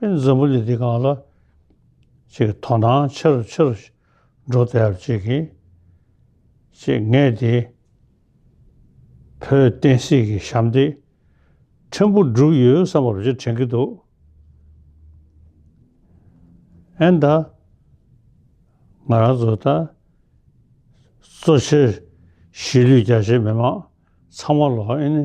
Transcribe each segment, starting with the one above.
འཛམ་བུ་གླིང་འདི་གང་ལ་ཅིག་དོ་སྣང་ཆེར་ཆེར་འགྲོ་བསྡད་ཅིག་ཅེས་ངས་དེ་བོད་བསྟན་སྲིད་ཀྱི་ཞབས་འདེགས་ཕྲན་བུ་བསྒྲུབས་ཡོད་བསམ་པ་རེ་དྲན་གྱི་འདུག་ཨན་ད། ང་རང་ཚོ་ད་གཙོ་ཆེར་གཞིས་ལུས་རྒྱ་ཆེའི་མི་མང་ཚང་མ་ལ་ཨེ་ནི།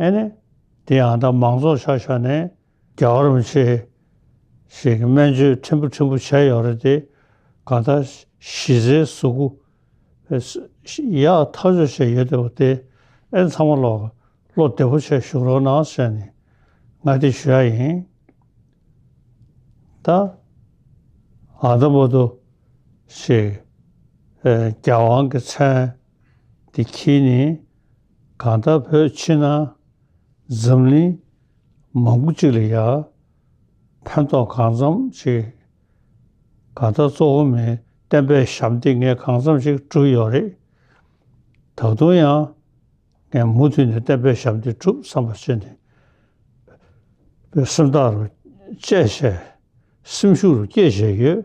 ཨེ་ནས། དེ་ཡང་དག་མང་ཚོགས་ཤག་ཤག་ནས། རྒྱ་གར་མི་ཆེ་ཞིག་གི་སྨན་བཅོས་ཕྲན་བུ་ཕྲན་བུ་བྱས་ཡོད་རེད་དེ། གང་ལྟར། གཞི་རྩའི་གཟུགས་པོ། ཡག་ཐག་གཅོད་བྱས་ཡོད་བསྡད་པ་དེ། ཨེ་ཚང་མ་ལོག། བློ་བདེ་བོ་བྱས་བཞུགས་རོགས་གནང་ཟེར་ནས། ང་དེ་ཞུ་ཡག་ཡིན། ད། ཨ་ད་མོ་ཏོ། ཞེས། རྒྱ་དབང་གི་མཚན། དེ་གྱིས་ནི། གང་ལྟར་བོད་ཕྱི་ནང་འཛམ་གླིང་མང་པོ་གཅིག་ལ་ཡར་ཕན་ཐོགས་གང་འཚམ་ཞིག་གང་ལྟར་གཙོ་བོ་མིའི་བསྟན་པའི་ཞབས་འདེགས་ངས་གང་འཚམ་ཞིག་བསྒྲུབས་ཡོད་རེད། ད་དུང་ཡང་ངས་མུ་མཐུད་ནས་བསྟན་པའི་ཞབས་འདེགས་བསྒྲུབ་བསམ་པ་ཅི་ནས་བོད་སེམས་ཐག་རུ་བཅད་བྱས་སེམས་ཤུགས་རུ་བསྐྱེད་བྱས་ཡོད།